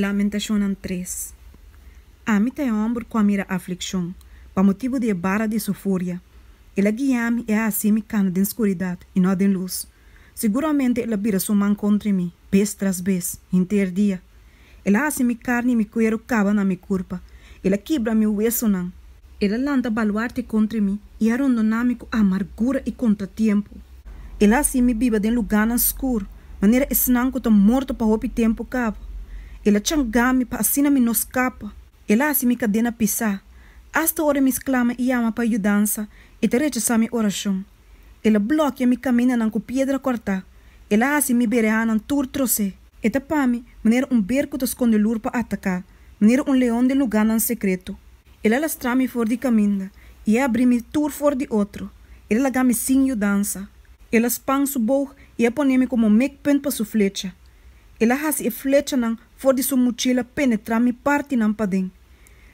Lamentacionnan tres. Ami ta e homber cu a mira afliccion, pa motibu di e bara di su furia. El a guia mi, e a haci mi cana den scuridad, y no den luz. Seguramente el a bira su man contra mi, bes tras bes, henter dia. El a haci mi carni y mi cuero caba na mi curpa, el a kibra mi huesonan. El a lanta baluarte contra mi, y a rondoná mi cu amargura y contratiempo. El a haci mi biba den lugánan scur, manera esnan cu ta morto pa hopi tempo cabo. El a changá mi pa asina mi no scapa. El a haci mi cadena pisá. Hasta ora mi sclama y yama pa yudansa, e ta rechazá mi oracion. El a blokia mi kaminanan ku piedra kòrtá, el a hasi mi berehanan tur tros'é. E ta pa mi manera un ber ku ta skonde lur pa ataká, manera un leon den lugánan sekreto. El a lastrá mi for di kaminda i e abrí mi tur for di otro, el a laga mi sin yudansa. El a span su boug i a pon'é mi komo mekpunt pa su flecha, el a hasi e flechanan For di su muchila penetrá mi partinan paden.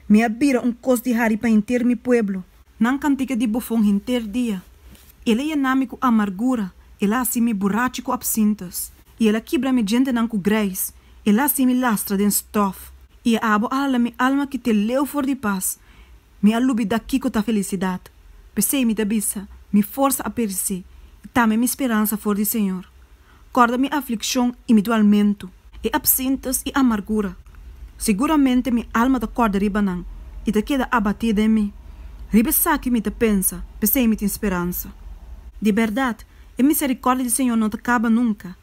Mi a bira un kos di hari pa henter mi pueblo. Nan kantika di bofon henter dia. El a yená mi ku amargura, el a hasi mi burachi ku apsintas. I el a kibra mi djentenan ku greis, el a hasi mi lastra den stòf. I e abo a hala mi alma ki te leu for di pas. Mi a lubida kico ta felicidad. P'esey mi ta bisa, Mi forsa a pereci, y tambe mi speransa for di Señor. Corda mi afliccion y mi dualmento. E absintes y amargura. Seguramente mi alma ta corda riba nan, y ta keda abatí den mi. Riba esaki mi ta pensa, P'esey mi tin speransa. Di berdad, e misericordia di Señor no ta caba nunca,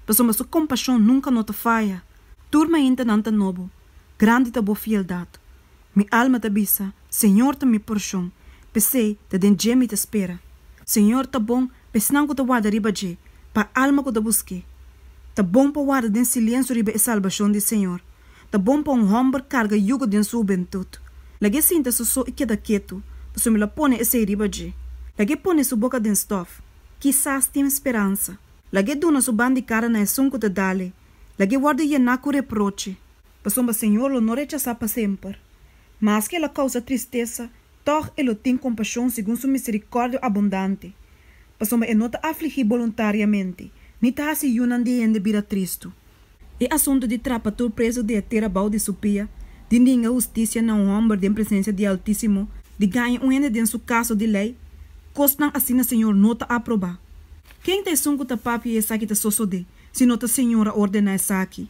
pasobra su compasion nunca no ta faya. Tur maintanan ta nobo, grandi ta bo fieldad. Mi alma ta bisa, Señor ta mi porshon, p'esei ta den dje mi ta spera. Señor ta bon pa esnan ku ta warda riba dje, pa alma ku ta busk'é. Ta bon pa warda den silensu riba e salbashon di Señor. Ta bon pa un hòmber karga yugu den su hubentut. Lag'é sinta su so i keda ketu, pasobra mi lo pone esei riba dje. Lag'é pone su boka den stòf, kisas tin speransa. Lag'é duna su bandikada na esun ku ta dale, lag'é wòrdu yená ku reproche. Pasobra Señor lo no rechasá pa semper. Maske el a kousa tristesa, tòg e lo tin kompashon segun su miserikòrdia abundante. Pasobra e no ta afligí boluntariamente, ni ta hasi yunan di hende bira tristu. E asuntu di trapa tur presu di e tera bou di su pia, di ninga hustisia na un hòmber den presensia di Altísimo, di gaña un hende den su kaso di lei, kosnan asina Señor no ta aprobá. Ken ta esun ku ta papia i esaki ta sosodé, si no ta Señor a ordená esaki?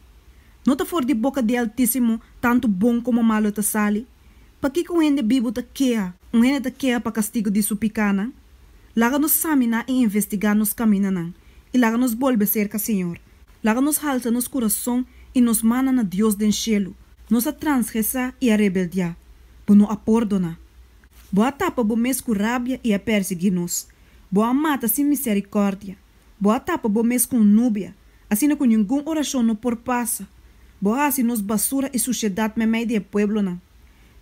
No ta for di boka di Altísimo tantu bon komo malu ta sali? Pakiko un hende bibu ta keha? Un hende ta keha pa kastigu di su pikánan? Laga nos saminá i investigá nos kaminanan, i laga nos bolbe serka Señor. Laga nos halsa nos kurason i nos mana na Dios den shelu. Nos a transgresá i a rebeldiá, bo no a pordoná. Bo a tapa bo mes ku rabia i a pèrsiguí nos, bo a mata sin miserikòrdia. Bo a tapa bo mes ku un nubia, asina ku ningun orashon no por pasa. Bo a hasi nos basura i sushedat meimei di e pueblonan.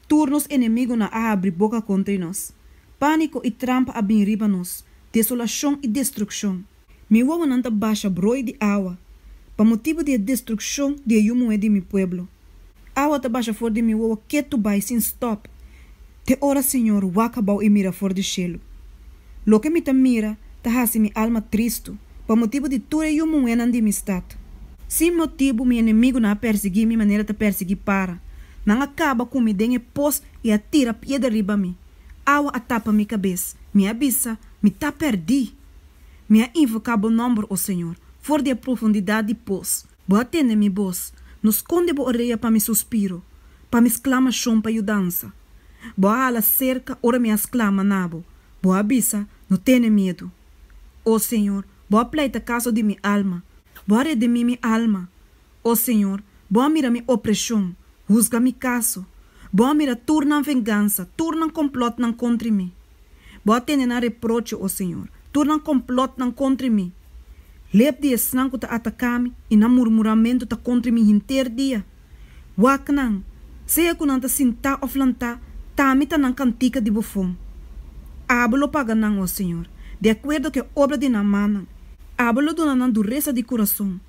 Tur nos enemigunan a habri boka kontra di nos. Pániko i trampa a bin riba nos, desolashon i destrukshon. Mi wowonan ta basha broi di awa, pa motibu di e destrukshon di e yu muhé di mi pueblo. Awa ta basha for di mi wowo ketu bai sin stòp te ora Señor waka bou i mira for di shelu. Loke mi ta mira ta hasi mi alma tristu pa motibu di tur e yu muhénan di mi stat. Sin motibu mi enemigunan a pèrsiguí mi manera ta pèrsiguí para. Nan a kaba ku mi den e pos i a tira piedra riba mi. Awa a tapa mi kabes. Mi a bisa, Mi ta pèrdí! Mi a invoká bo nòmber, o Señor, for di e profundidat di pos. Bo a tende mi bos, no skonde bo orea pa mi suspiro, pa mi sklamashon pa yudansa. Bo a hala serka ora mi a sklama na bo, bo a bisa, No tene miedu. O Señor, bo a pleita kaso di mi alma, bo a redimí mi alma. O Señor, bo a mira mi opreshon, husga mi kaso, bo a mira tur nan vengansa, tur nan komplòtnan kontri mi. Bo a tene nan reproche, o Señor. Tur nan complotnan contra e mi. Lep di esnan cu ta ataca mi, i nan murmuramentu ta contra e mi hinter dia. Wak nan, sea cu nan ta sinta of lanta, ta mi ta nan cantica di bufon. Abo lo paga nan, o Señor, di acuerdo cu e obra di nan mannan. Abo lo duna nan duresa di curason.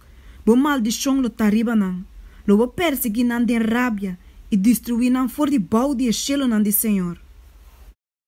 Bo maldicion lo ta riba nan. Lo bo persegui nan den rabia, i destrui nan for di bou di e cielonan di Señor.